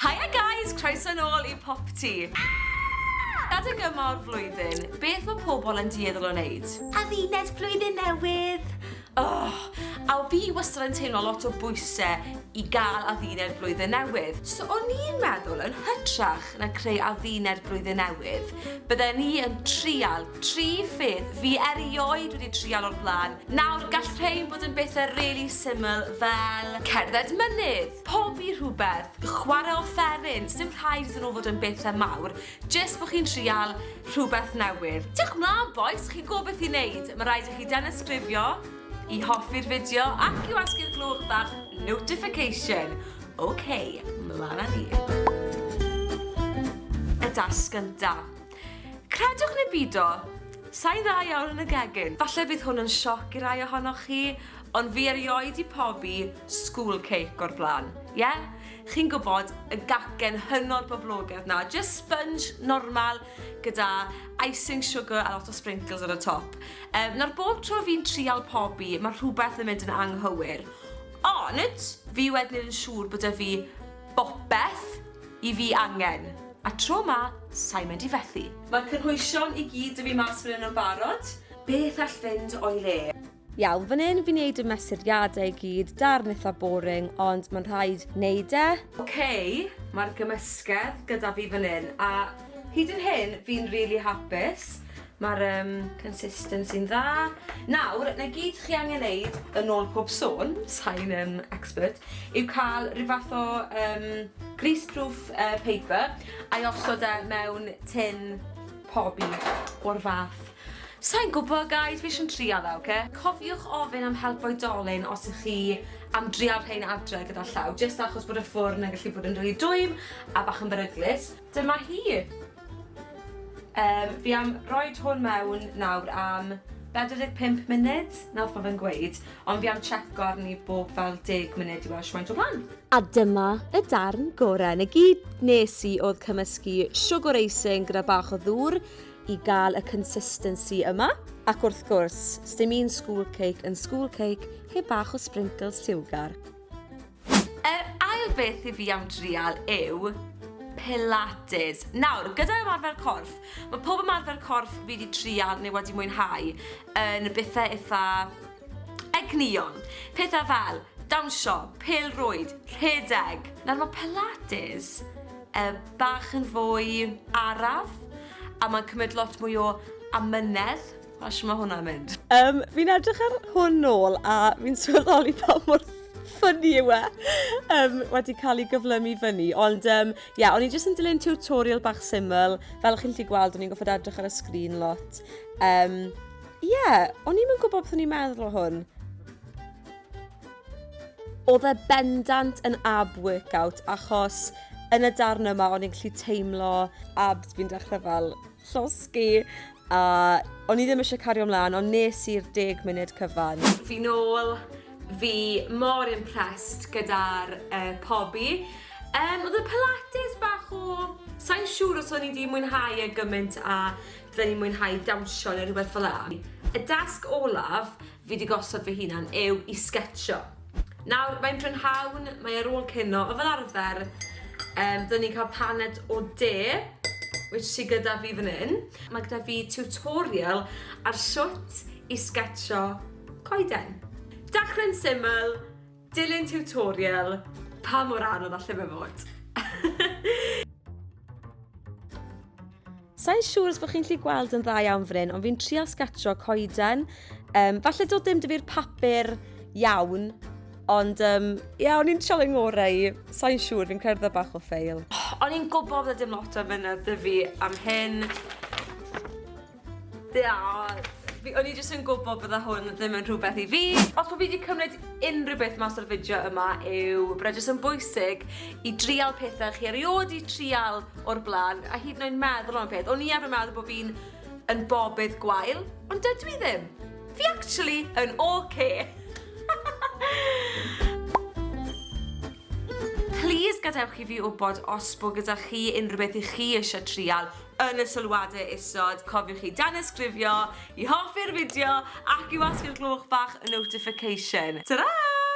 Hiya guys, croeso nôl i Popty. Adeg yma o'r flwyddyn, beth mae pobl yn dieddol o wneud? Adduned blwyddyn newydd! Oh, a o fi wastad yn teimlo lot o bwysau i gael adduned blwyddyn newydd. So o'n i'n meddwl yn hytrach gyda creu adduned blwyddyn newydd, bydden ni yn trial tri pheth fi erioed wedi trial o'r blaen. Nawr, gall rhein bod yn bethau really syml fel cerdded mynydd, pobi rhywbeth, chwarae offeryn, sdim rhaid iddyn nhw fod yn bethau mawr, jyst bod chi'n trial rhywbeth newydd. Diolch mlaen bois, chi'n gwybod beth i wneud, mae rhaid i chi danysgrifio, I hoffi'r fideo ac i wasgu'r gloch bach notification. Ok, mlan â ni. Y dasg gynta. Credwch neu bido, sa'i dda iawn yn y gegin. Falle bydd hwn yn sioc i rai ohonoch chi, ond fi erioed di pobi school cake o'r blaen. Ie? Chi'n gwybod, y gacen hynod boblogedd na, just sponge normal, gyda icing sugar a lot o sprinkles ar y top. Um, nawr bob tro fi'n trial pobi, mae rhywbeth yn mynd yn anghywir. Ond, fi wedyn yn siŵr bod y fi bopeth i fi angen. A tro ma, sa'i mynd i fethu. Mae cynhwysion i gyd y fi mas fan hyn yn barod. Beth all fynd o'i le? Iawn, fan hyn fi'n neud y mesuriadau i gyd, darn eitha boring, ond mae'n rhaid neud e. Ok, mae'r gymysgedd gyda fi fan hyn, a hyd yn hyn fi'n rili really hapus. Mae'r um, consistency'n dda. Nawr, na gyd chi angen neud yn ôl pob sôn, sain um, expert, yw cael rhyw fath o um, greaseproof uh, paper a'i osod e mewn tin pobi o'r fath Sa i'n gwybod guys, fi jyst yn trial e, oce? Cofiwch ofyn am help oedolyn os ych chi am drial rhein adre gyda llaw, jyst achos bod y ffwrn yn gallu bod yn rili dwym a bach yn beryglus. Dyma hi! Yym, fi am roid hwn mewn nawr am 45 munud, 'na wrth ma fe'n gweud, ond fi am checo arni bob fel deg munud i weld shwmaint o flan. A dyma y darn gore, 'na gyd nes i o'dd cymysgu siwgwr eising gyda bach o ddŵr, i gael y consistency yma. Ac wrth gwrs, sdim un school cake yn school cake heb bach o sprinkles siwgar. Yr ail beth i fi am drial yw Pilates. Nawr, gyda ymarfer corff, mae pob ymarfer corff fi wedi trial neu wedi mwynhau yn bethau eitha Egnïon, pethau fel, dawnsio, pêl-rwyd, rhedeg. Nawr mae pilates yy bach yn fwy araf a mae'n cymryd lot mwy o amynedd, a shwt mae hwnna'n mynd? Yym, fi'n edrych ar hwn nôl a fi'n sylweddoli pa mor ffyni yw e um, wedi cael ei gyflymu fyny. Ond ie, um, yeah, o'n i jyst yn dilyn tutorial bach syml. Fel chi'n lli gweld, o'n i'n goffod edrych ar y sgrin lot. Um, Ie, o'n i'm yn gwybod beth o'n i'n meddwl o hwn. Oedd e bendant yn ab workout achos yn y darn yma o'n i'n gallu teimlo abs fi'n dechrau fel llosgi a o'n i ddim eisiau cario ymlaen ond nes i'r deg munud cyfan. Fi nôl, fi mor impressed gyda'r uh, pobi. Um, oedd y pilates bach o... Sa'n siŵr os o'n i wedi mwynhau e gymaint a Fe'n i'n mwynhau dawnsio neu rhywbeth fel 'a. Y dasg olaf fi 'di gosod fy hunan yw i sgetshio. Nawr, mae'n brynhawn, mae ar ôl cino, a fel arfer, yym, dyn ni'n cael paned o de, which sy gyda fi fan 'yn. Mae gyda fi tutorial ar shwt i sgetshio coeden. Dechre'n syml, Dilyn tiwtorial pa mor anodd alle fe fod? Sa i'n siŵr os bod chi'n lli gweld yn dda iawn fan hyn, ond fi'n trial sgatro coeden. Um, falle dod dim dyfu'r papur iawn, ond um, ia, o'n i'n trial yn ngorau i. Sa i'n siŵr, fi'n cerdded bach o ffeil. O'n i'n gwybod bod dim lot o fynedd dy fi am hyn. Diolch! Fi... o'n i jyst yn gwybod bydde hwn ddim yn rhywbeth i fi. Os bo' fi 'di cymryd unrhyw beth mas o'r fideo yma yw bod e jyst yn bwysig i drial pethe chi erioed 'di trial o'r bla'n, a hyd yn oed meddwl am y peth. O'n i arfer meddwl bo' fi'n yn bobydd gwael, ond dydw i ddim. Fi actually yn ocê. Plîs gadewch i fi wbod os bo' gyda chi unrhyw beth 'ych chi isie trial. Yn y sylwadau isod, cofiwch i danysgrifio, i hoffi'r fideo ac i wasgu'r gloch bach notification. Tara!